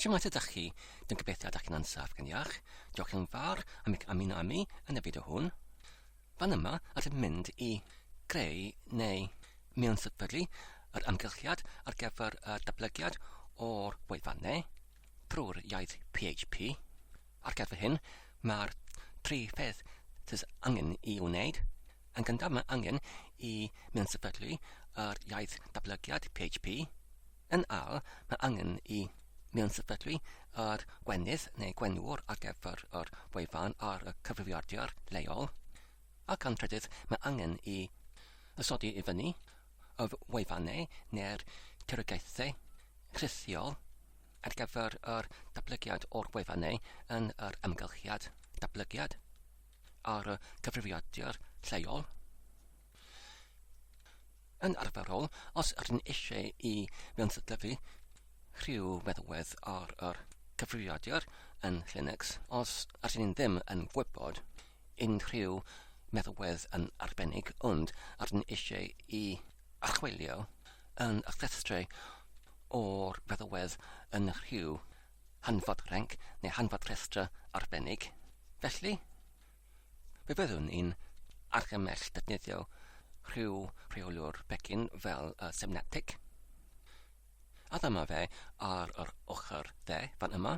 Shwmae tydach chi? Dwi'n gobeithio ydych chi'n ansaf gan iach. Diolch yn fawr am eich ymuno â mi yn y fideo hwn. Fan yma allwch mynd i greu neu mewn sefydlu yr amgylchiad ar gyfer y datblygiad o'r wefan neu drwy'r iaith PHP. Ar gyfer hyn, mae'r tri pheth sydd angen i'w wneud, yn gyntaf mae angen i mewn-sefydlu yr iaith datblygiad PHP, yn ail mae angen i mewn-sefydlu yr gwenith neu gwenwr ar gyfer yr wefan ar y cyfrifiadur leol, ac yn trydydd mae angen i ysodi i fyny y wefannau neu'r tirogaethau rhithiol ar gyfer yr datblygiad o'r gwefan neu yn yr amgylchiad datblygiad ar y cyfrifiadur lleol. Yn arferol, os ydyn eisiau i fewnsydlyfu rhyw feddalwedd ar yr cyfrifiadur yn Linux, os ydyn ni'n ddim yn gwybod unrhyw meddalwedd yn arbennig ond ydyn eisiau i archwilio yn y llestri o'r feddwedd yn rhyw hanfod renc neu hanfod rhestr arbennig. Felly, fe fyddwn ni'n argymell defnyddio rhyw rheoliwr pecyn fel y Semnetic. A dyma fe ar yr ochr dde fan yma.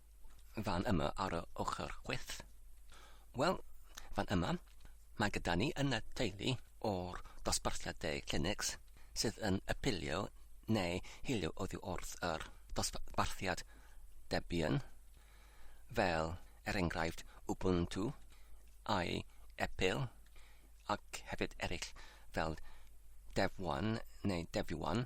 fan yma ar y ochr chwith. Wel, fan yma, mae gyda ni yn y teulu o'r dosbarthiadau Linux sydd yn apelio neu hilio oddi wrth yr dosbarthiad Debian, fel er enghraifft Ubuntu, ai Epil, ac hefyd eraill fel Dev1 neu Devuan.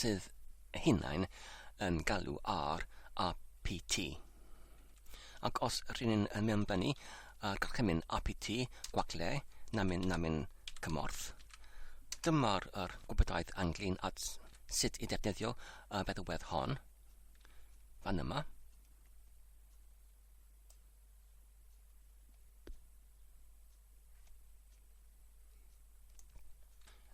sydd hunain yn galw ar APT. Ac os rydyn ni'n mewnbynnu ar gorchymyn APT gwagle namin namin cymorth, dyma'r er gwybodaeth anglyn at sut i ddefnyddio y feddwedd hon, fan yma.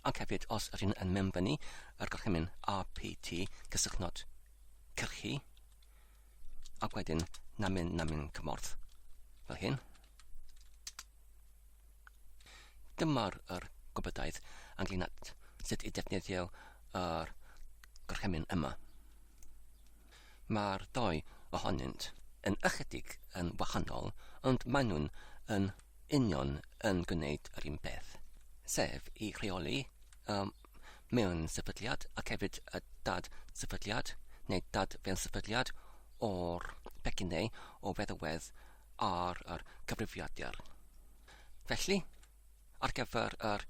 Ac hefyd, os ydyn yn member ni, yr gorchymyn RPT, cysylltnod cyrchu, ac wedyn namin namin cymorth, fel hyn. Dyma'r er gwybodaeth ynglyn at sut i defnyddio yr er gorchymyn yma. Mae'r ddau ohonynt yn ychydig yn wahanol ond maen nhw'n yn union yn gwneud yr un peth, sef i reoli y mewn-sefydliad ac hefyd y dad-sefydliad neu dad-fewn-sefydliad o'r pecyn neu o feddwedd ar yr cyfrifiadur. Felly, ar gyfer yr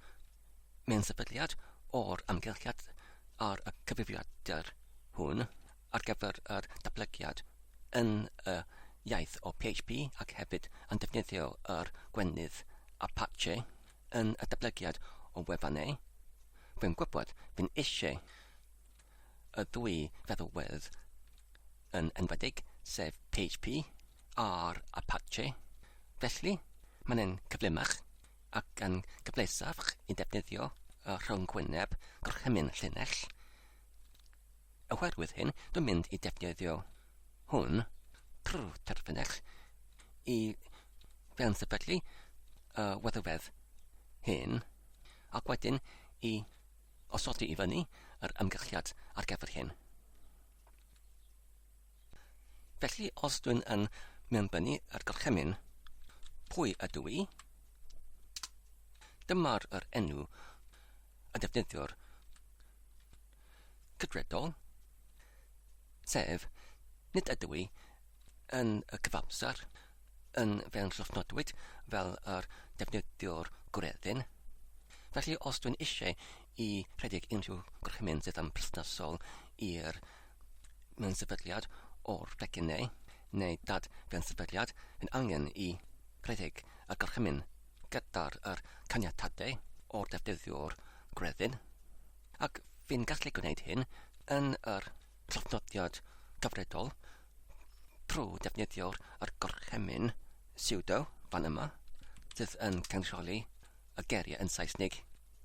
mewn-sefydliad o'r amgylchiad ar y cyfrifiadur hwn ar gyfer yr datblygiad yn y iaith o PHP ac hefyd yn defnyddio yr gwenith Apache yn y datblygiad o wefannau, rwy'n gwybod, rwy'n eisiau. y dwy feddalwedd yn enwedig, sef PHP a'r Apache. Felly, mae'n yn cyflymach ac yn gyfleusach i ddefnyddio y rhyngwyneb gorchymyn llinell. Oherwydd hyn, dwi'n mynd i defnyddio hwn trwy terfynell i fewn sefydlu y weddywedd hyn ac wedyn i Osodi i fyny yr ymgylchiad ar gyfer hyn. Felly, os dwi'n yn mewnbynnu yr gorchymyn, pwy ydw i? Dyma'r yr enw y defnyddiwr cydredol, sef nid ydw i yn y cyfamser yn fewnllwfnodwyd fel yr defnyddiwr gwreddyn. Felly, os dwi'n eisiau i rhedeg unrhyw gorchymyn sydd yn perthnasol i'r mewnsyfydliad o'r pecyn neu, neu dad fewnsyfydliad, yn angen i rhedeg y gorchymyn gyda'r yr caniatadau o'r defnyddiwr gwreddyn, ac fi'n gallu gwneud hyn yn yr traddodiad gyfredol trwy ddefnyddio yr gorchymyn pseudo fan yma, sydd yn cynrychioli y geiriau yn Saesneg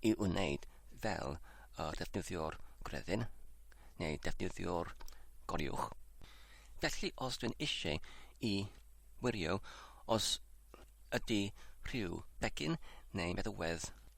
i wneud fel y defnyddiwr gwreddyn neu defnyddiwr goriwch. Felly os dwi'n eisiau i wirio os ydy rhyw begyn neu feddywedd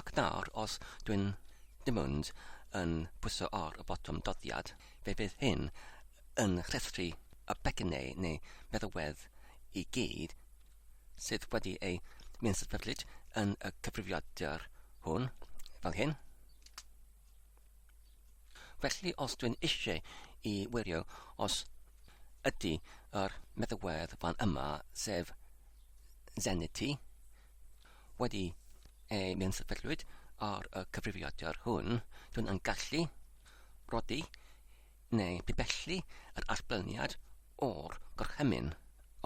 Ac nawr os dwi'n dim ond yn pwyso ar y botwm doddiad, fe fydd hyn yn rhestru y pecynnau neu feddalwedd i gyd sydd wedi eu mensatberlid yn y cyfrifiadur hwn, fel hyn. Felly os dwi'n eisiau i wirio os ydy yr meddalwedd fan yma, sef Zenity, wedi ei mensaferlwyd ar y cyfrifiadur hwn, dwn yn gallu rodi neu bibellu yr allblniad o'r gorchymyn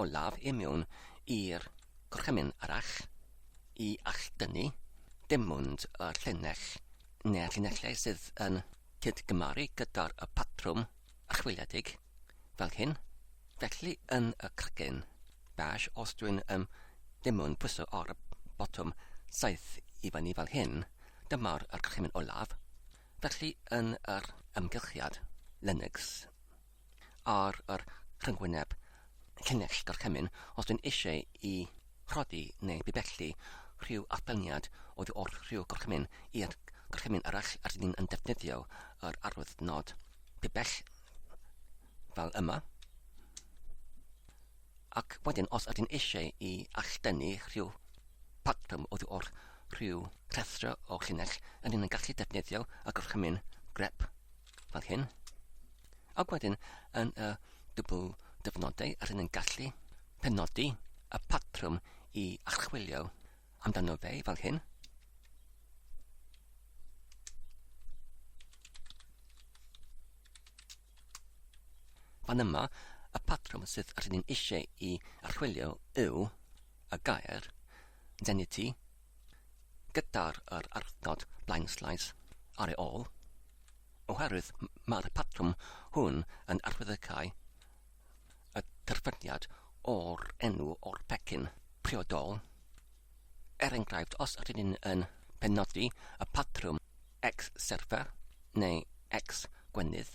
olaf i miwn i'r gorchymyn arall i alldynnu dim ond y llinell neu'r llinellau sydd yn cydgymaru gyda'r patrwm archwiliedig fel hyn, felly yn y cracen bach os dwi'n um, ddim yn pwyso ar y botwm saith i fyny fel hyn, dyma'r archymyn olaf, felly yn yr ymgylchiad Linux ar yr rhyngwyneb llinell gorchymyn os dwi'n eisiau i rhoddi neu bibellu rhyw allbelniad oddi wrth rhyw gorchymyn i'r gorchymyn arall a rydyn yn defnyddio yr arwydd nod pibell fel yma ac wedyn os ydyn eisiau i alldennu rhyw patrwm oddi wrth rhyw rhestr o llinell yn yn gallu defnyddio y gorchymyn grep fel hyn. Ac wedyn, yn y dwbl dyfnodau, rydyn yn gallu penodi y patrwm i archwilio amdano fe fel hyn. Fan yma, y patrwm sydd rydyn eisiau i archwilio yw y gair zenity gyda'r yr arfnod blaenllaes ar ei ôl, oherwydd mae'r patrwm hwn yn arwyddocaol y terfyniad o'r enw o'r pecyn priodol. Er enghraifft, os ydyn ni'n yn penodi y patrwm X serfa neu X gwenith,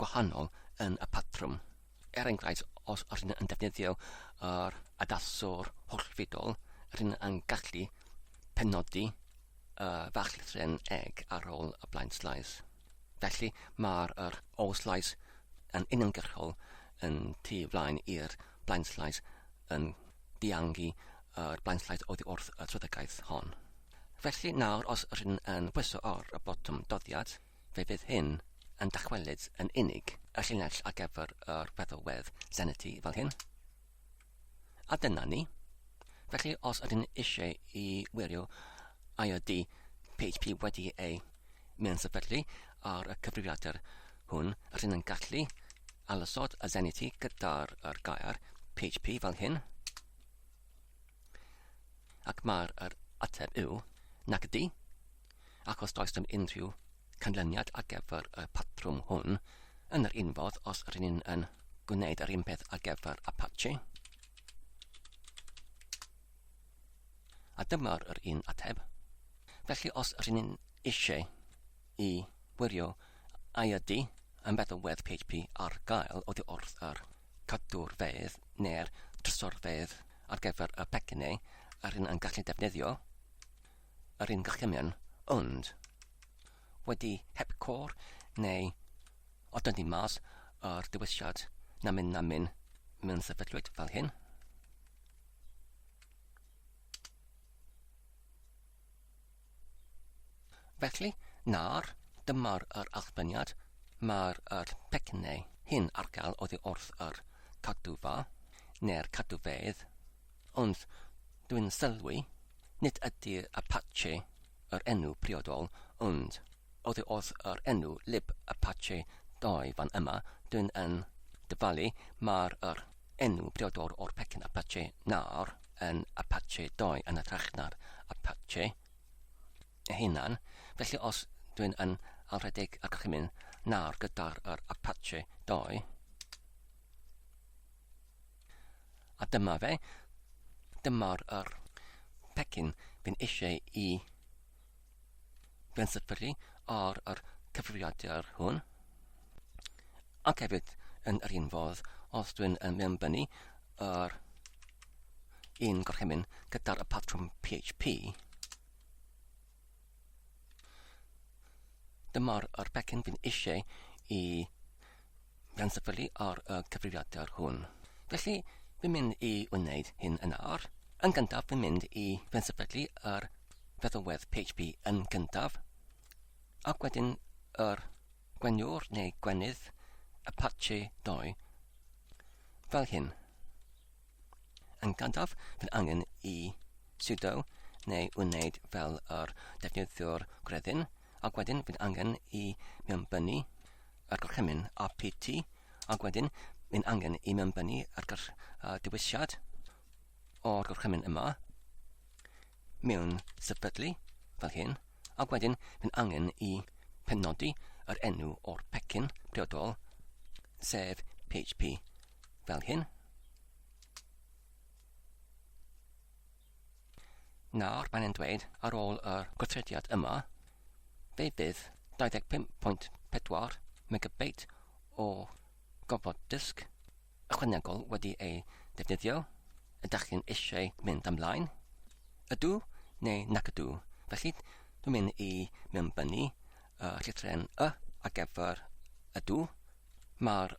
gwahanol yn y patrwm. Er enghraifft, os rydyn yn defnyddio yr adaswr hollfudol, rydyn yn gallu penodi y fachlithren egg ar ôl y blind slice. Felly mae'r yr all slice yn uniongyrchol yn tu flaen i'r blind slice yn diangu yr blind slice oddi wrth y trydygaeth hon. Felly nawr os rydyn yn pwyso ar y botwm doddiad, Fe fydd hyn yn dychwelyd yn unig y llinell ar gyfer yr feddalwedd Zenity fel hyn. A dyna ni. Felly os ydyn eisiau i wirio ai ydy PHP wedi ei meansefydlu ar y cyfrifiadur hwn, rydyn yn gallu alysod y Zenity gyda'r er gair PHP fel hyn. Ac mae'r er ateb yw nac ydy, ac os does dim unrhyw canlyniad ar gyfer y patrwm hwn, yn yr un fodd os rydyn ni'n yn gwneud yr un peth ar gyfer Apache, a dyma'r yr un ateb. Felly os rydyn ni'n eisiau i wirio a ydy yn feddwl wedd PHP ar gael oddi wrth yr cadwr fedd neu'r trysor fedd ar gyfer y pecynau a rydyn yn gallu defnyddio, yr un gorchymyn, ond wedi heb cor neu o dynnu mas yr dewisiad na myn na myn mewn sefydlwyd fel hyn. Felly, nawr, dyma'r yr allbyniad, mae'r yr pecynau hyn ar gael oddi wrth yr cadwfa neu'r cadwfeydd Ond, dwi'n sylwi, nid ydi Apache yr enw priodol, ond oddi wrth yr enw Lib Apache ddoe fan yma, dwi'n yn dyfalu mai'r yr enw priodol o'r pecyn Apache nawr yn Apache ddoe yn hytrach na'r Apache ei hunan, felly os dwi'n yn alrhedeg y gorchymyn nawr gyda'r yr Apache ddoe, A dyma fe. Dyma'r yr pecyn fi'n eisiau i bensyffylu ar yr cyfrifiadur hwn. Ac hefyd yn yr un fodd, os dwi'n mewnbynnu yr un gorchymyn gyda'r patrwm PHP, Dyma'r yr pecyn fi'n eisiau i gan syfylu ar y cyfrifiadur hwn. Felly, fi'n mynd i wneud hyn yn ar. Yn gyntaf, fi'n mynd i fe'n syfydlu yr feddalwedd PHP yn gyntaf, ac wedyn yr gweniwr neu gwenydd Apache 2 fel hyn. Yn gyntaf, bydd angen i sudo neu wneud fel yr defnyddiwr gwreddyn, ac wedyn bydd angen i mewnbynnu yr gorchymyn apt, ac wedyn bydd angen i mewnbynnu yr uh, dewisiad o'r gorchymyn yma mewn sefydlu fel hyn, ac wedyn bydd angen i penodi yr enw o'r pecyn priodol, sef PHP. Fel hyn. Nawr mae'n e'n dweud ar ôl yr gweithrediad yma, fe bydd 25.4 megabit o gofod dysg ychwanegol wedi ei defnyddio, ydych chi'n eisiau mynd ymlaen? Ydw neu nac ydw, felly dwi'n mynd i mewnbynnu y llythren y ar gyfer ydw, mae'r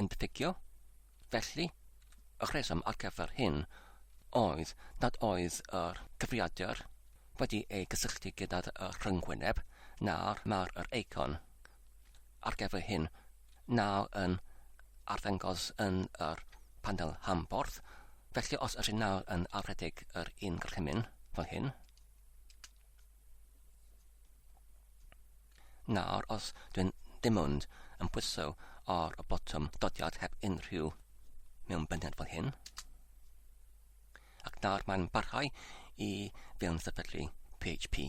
yn diffygio, felly, y rheswm ar gyfer hyn oedd nad oedd yr cyfrifiadur wedi ei gysylltu gyda'r rhyngwyneb na'r mar yr eicon ar gyfer hyn nawr yn arddangos yn yr panel rhanbarth, felly os ydyn nawr yn arddedig yr un gorchymyn fel hyn, Nawr os dwi'n dim ond yn pwyso ar y botwm dodiad heb unrhyw mewnbyndiad fel hyn, ac nawr mae'n barhau i fewn sefydlu PHP.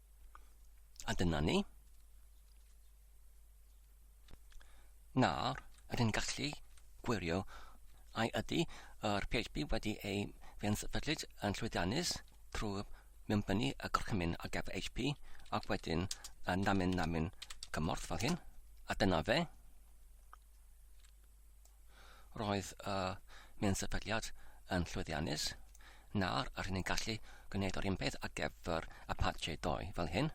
A dyna ni. Nawr, rydyn gallu gwirio ai ydy yr PHP wedi ei fensefydlyd yn llwyddiannus trwy mewnbynnu y gorchymyn ar gyfer HP ac wedyn y namin namin cymorth fel hyn. A dyna fe. Roedd y minsefydliad yn llwyddiannus, nawr yr hyn ni'n gallu gwneud o'r un peth ar gyfer Apache 2 fel hyn.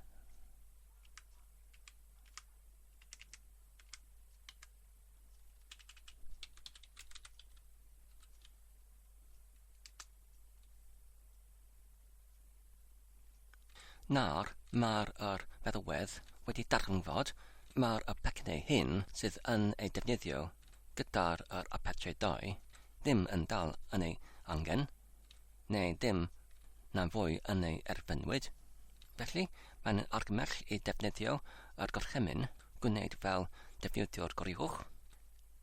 Nawr mae'r yr feddalwedd wedi darganfod mai'r y pecynau hyn sydd yn eu defnyddio gyda'r yr Apache 2 ddim yn dal yn ei angen, neu ddim na fwy yn ei erfynwyd. Felly, mae'n argymell i defnyddio yr gorchymyn gwneud fel defnyddiwr goruwch,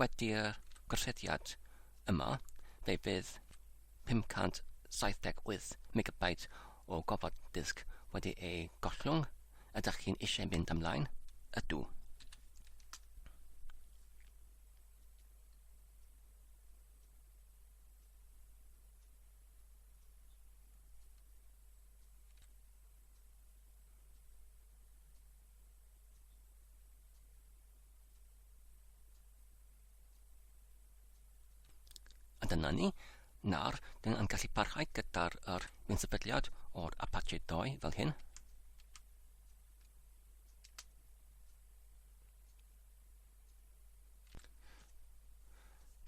Wedi'r gosodiad yma, fe fydd 578 megabyte o gofod disg wedi ei gollwng, ydych chi'n eisiau mynd ymlaen? Ydw. A dyna ni. Nawr, dyn ni'n gallu parhau gyda'r er gwnsefydliad o'r Apache 2 fel hyn.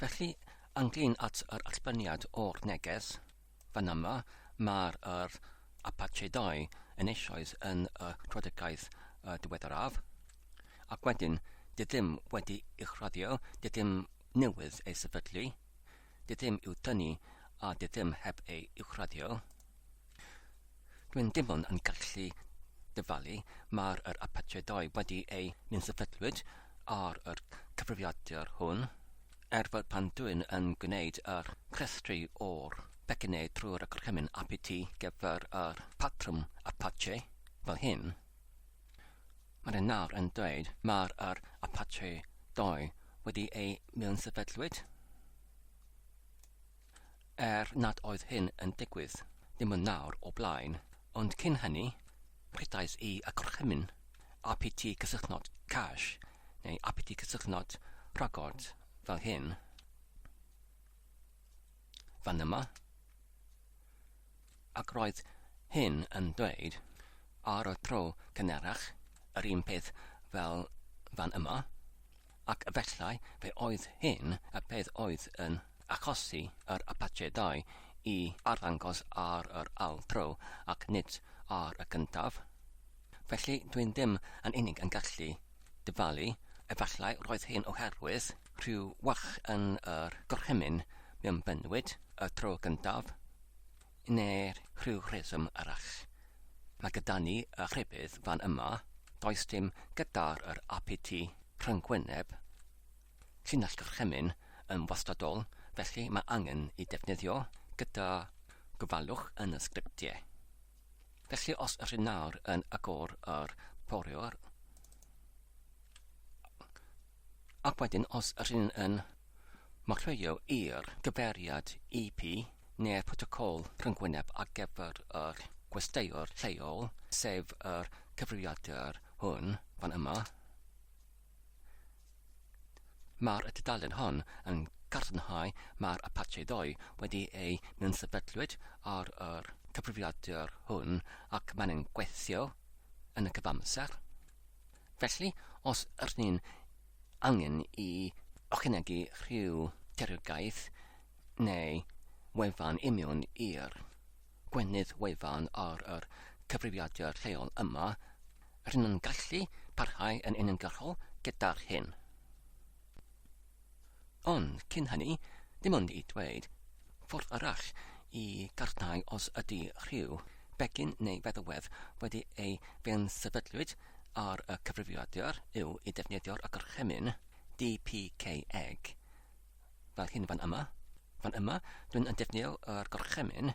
Felly, anglyn at yr allbyniad o'r neges, Fan yma, mae'r yr Apachedau yn eisoes yn y Rhodegaidd y diweddaraf, ac wedyn, dydym wedi uwchraddio, dydym newydd ei sefydlu, dydym i'w tynnu a dydym heb ei uwchraddio. Rwy'n dim ond yn gallu dyfalu, mae'r yr apartheid wedi ei nunsyfydlwyd ar yr cyfrifiadur hwn, er fod pan dwy'n yn gwneud yr cwrestri o'r pecyne trwy'r y gorchymyn apiti gyfer yr patrwm apache fel hyn, mae rhywun nawr yn dweud mae'r yr apartheid doi wedi ei miwnsefydlwyd. Er nad oedd hyn yn digwydd, dim ond nawr o blaen, ond cyn hynny, rhedais i y gorchymyn APT cysylltnod cash neu APT cysylltnod rhagor fel hyn, fan yma, ac roedd hyn yn dweud ar y tro cynharach yr un peth fel fan yma. Ac efallai fe oedd hyn y peth oedd yn achosi yr Apachedau i arddangos ar yr ail dro ac nid ar y gyntaf. Felly dwi'n ddim yn unig yn gallu dyfalu, efallai roedd hyn oherwydd rhyw wach yn yr gorchymyn mewn bennwyd y tro gyntaf, neu rhyw reswm arall. Mae gyda ni y rhybudd fan yma, does dim gyda'r yr apiti rhyngwyneb, llinell gorchymyn, yn wastadol, felly mae angen i defnyddio gyda gofalwch yn y sgriptiau. Felly os ydyn nawr yn agor yr poriwr, Ac wedyn os rŷn ni yn marcio i'r gyfeiriad IP neu'r protocol rhyngwyneb ar gyfer yr gwesteiwr lleol, sef yr cyfrifiadur hwn fan yma, mae'r tudalen hon yn cadarnhau mae'r Apache ddoe wedi ei myn-sefydlwyd ar yr cyfrifiadur hwn ac mae'n gweithio yn y cyfamser. Felly, os ydyn ni'n angen i ychwanegu rhyw deriogaeth neu wefan i mewn i'r gwenith wefan ar yr cyfrifiadur lleol yma, rydyn ni'n gallu parhau yn uniongyrchol gyda'r hyn. Ond cyn hynny, dim ond i dweud, ffordd arall i gartnau os ydy rhyw begyn neu feddalwedd wedi ei fensefydlwyd ar y cyfrifiadur yw i ddefnyddio'r agorchymyn DPK eg, fel hyn fan yma. Fan yma, dwi'n yn defnyddio yr gorchymyn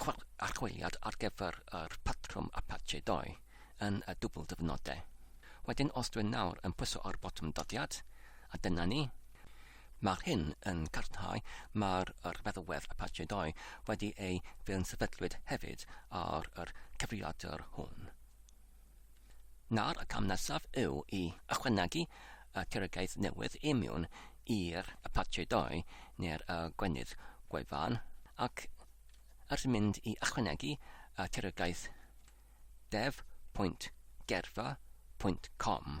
Chwaraeodd archwiliad ar gyfer yr patrwm Apache ddoe yn y dwbl dyfnodau. Wedyn os dwi'n nawr yn pwyso ar botwm dyddiad, a dyna ni. Mae'r hyn yn cadarnhau mae'r yr feddalwedd Apache ddoe wedi ei fe'n sefydlwyd hefyd ar yr cyfrifiadur hwn. Nawr y cam nesaf yw i ychwanegu y Ceragiaeth newydd imiwn i'r Apache Doi neu'r y Gwenith Gwaevan ac ers mynd i ychwanegu y Ceragiaeth dev pwynt gerfa pwynt com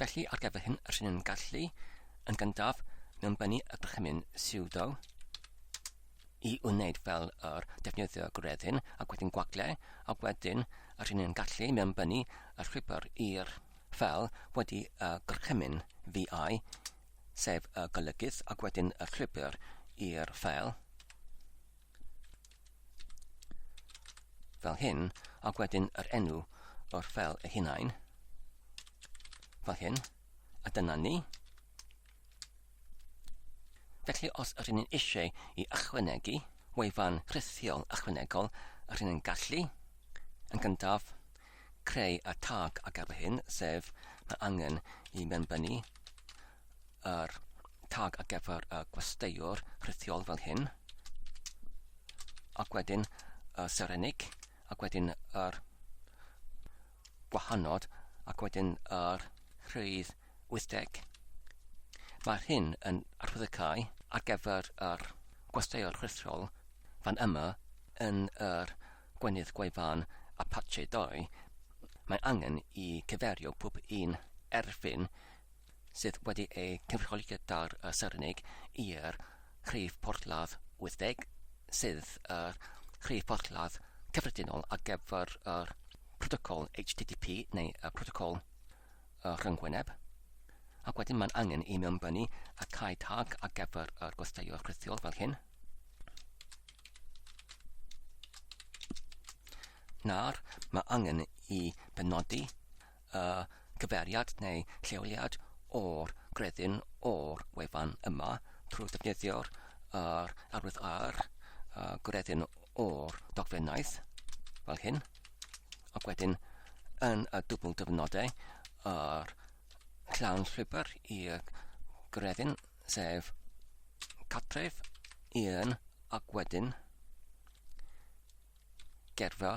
Felly, ar gyfer hyn, rydyn ni'n gallu, yn gyntaf, mewnbynnu y gorchymyn sudo i wneud fel yr defnyddio gwreddyn ac wedyn gwagle, a wedyn rydyn ni'n gallu mewnbynnu y rhwybr i'r fel wedi y gorchymyn VI, sef y golygydd, ac wedyn y rhwybr i'r fel. fel hyn, ac wedyn yr enw o'r fel ei hunain, fel hyn, a dyna ni. Felly os ydyn ni'n eisiau i ychwanegu wefan rhithiol ychwanegol, ydyn ni'n gallu, yn gyntaf, creu y tag ar gyfer hyn, sef mae angen i mewnbynnu yr tag ar gyfer y gwesteiwr rhithiol fel hyn, ac wedyn y serenig, ac wedyn yr gwahanod, ac wedyn yr rhydd 80. Mae'r hyn yn arwyddocau ar gyfer yr gwesteiwr rhithiol fan yma yn yr gwenydd gwefan Apache 2, mae angen i cyferio pob un erfyn sydd wedi ei gynrychioli gyda'r Serennig i'r rhif porthladd 80, sydd yr rhif porthladd cyffredinol ar gyfer yr protocol HTTP neu y protocol rhyngwyneb, ac wedyn mae'n angen i mewnbynnu y cae tag ar gyfer yr gwesteiwr rhithiol fel hyn. Nawr, mae angen i benodi y cyfeiriad neu lleoliad o'r gredyn o'r wefan yma trwy ddefnyddio'r yr arwydd ar y gredyn o'r dogfennaeth, fel hyn, ac wedyn yn y dwbl dyfynodau yr llawn llwybr i'r gredyn, sef catref, un, ac wedyn gerfa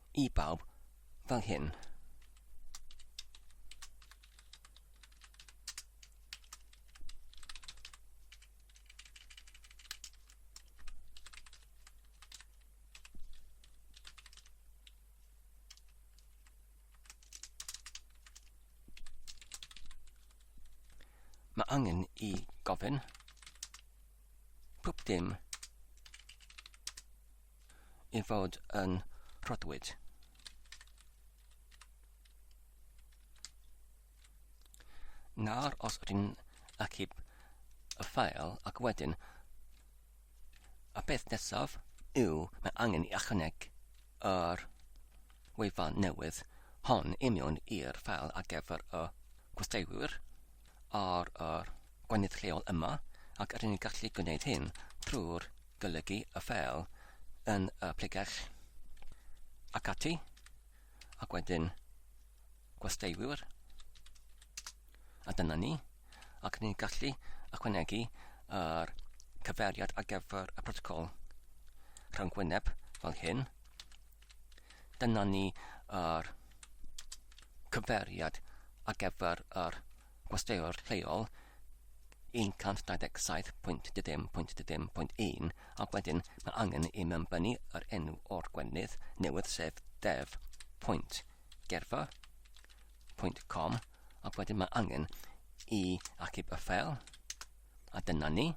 I bawb, fel hyn. Mae angen i gofyn pob dim i fod yn rhodwyd. Nawr os ydyn achub y ffael ac wedyn y peth nesaf yw mae angen i ychwaneg yr wefan newydd hon i mewn i'r ffael ar gyfer y gwesteiwyr ar yr gweinydd lleol yma ac rŷn ni'n gallu gwneud hyn trwy'r golygu y ffeil yn y pregell ac ati ac wedyn gwesteiwr a dyna ni ac rŷn ni'n gallu ychwanegu yr cyfeiriad ar gyfer y protocol rhwng gwyneb fel hyn dyna ni yr cyfeiriad ar gyfer yr gwesteiwr lleol 127.10.10.1 ac wedyn mae angen i mewn bynu yr enw o'r gwenith newydd sef dev.gerfa.com ac wedyn mae angen i achub y ffeil A dyna ni.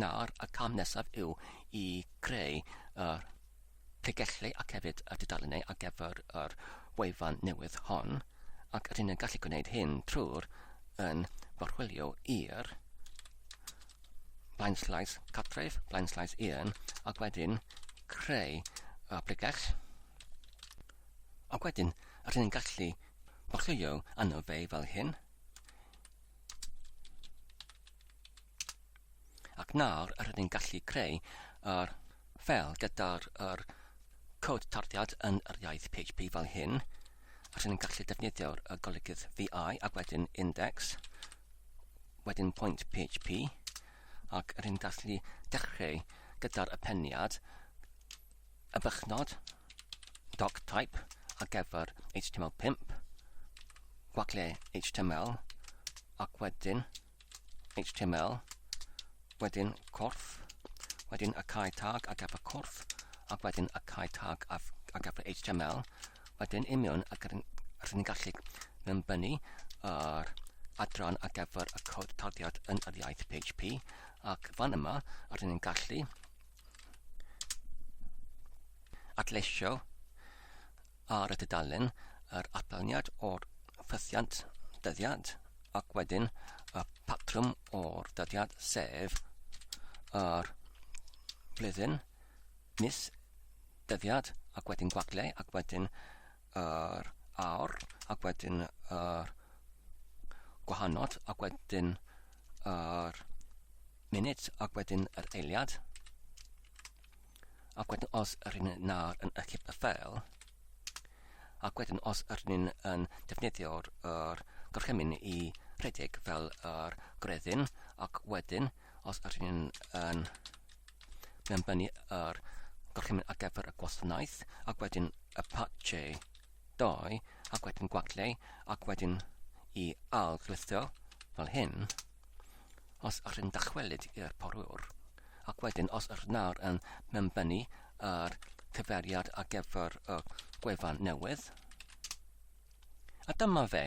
Nawr, y cam nesaf yw i creu yr pregelli ac hefyd y tudalennau ar gyfer yr wefan newydd hon, ac rydyn ni'n gallu gwneud hyn trwy'r yn gorchwilio i'r blaenslais cartref, blaenslais un, ac wedyn creu y pregell. Ac wedyn, rydyn ni'n gallu gorchwilio arno fe fel hyn, Ac nawr rydyn ni'n gallu creu yr ffeil gyda'r yr cod tarddiad yn yr iaith PHP fel hyn. A rydyn ni'n gallu defnyddio'r golygydd VI ac wedyn index, wedyn point PHP, ac rydyn ni'n gallu dechrau gyda'r apeniad y bychnod doctype ar gyfer HTML5, gwacle HTML, ac wedyn HTML, wedyn corff, wedyn y cae tag ar gyfer corff, ac wedyn y cae tag ar gyfer HTML, wedyn imiwn ac rydyn ni'n gallu mynbynnu yr adran ar gyfer y cod tagiad yn yr iaith PHP, ac fan yma rydyn ni'n gallu Adleisio ar y tudalen yr atalniad o'r ffythiant dyddiad ac wedyn y patrwm o'r dyddiad sef yr flwyddyn, mis, dyddiad ac wedyn gwagle ac wedyn yr awr ac wedyn yr gwahanod ac wedyn yr munud ac wedyn yr eiliad ac wedyn os yr hyn nawr yn ychydig y ffeil ac wedyn os yr hyn yn defnyddio'r er gorchymyn i rhedeg fel yr gredyn ac wedyn os yr hyn yn Mae'n bennu yr gorchymyn ar gyfer y gwasanaeth, ac wedyn y patche 2, ac wedyn gwagleu, ac wedyn i al glithio fel hyn. Os ych chi'n dychwelyd i'r porwr, ac wedyn os ych nawr yn mewnbennu yr cyferiad ar gyfer y gwefan newydd, A dyma fe.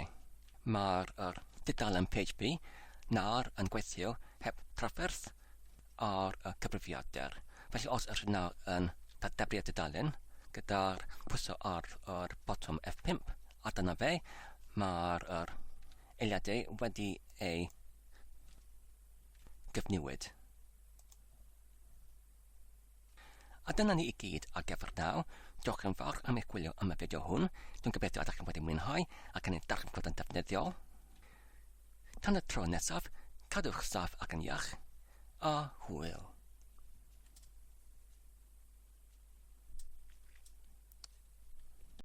Mae'r er, dudalen PHP nawr yn gweithio heb trafferth ar y cyfrifiadur. Felly os ydych nawr yn dadebri y dudalen gyda'r pwyso ar yr botwm F5, a dyna fe, mae'r er, eiliadau wedi ei gyfnewid. A dyna ni i gyd ar gyfer naw. Diolch yn fawr am eich gwylio am y fideo hwn. Dwi'n gobeithio ydych chi'n wedi mwynhau ac yn ei darllen yn defnyddiol. Tan y tro nesaf, cadwch saff ac yn iach, a hwyl.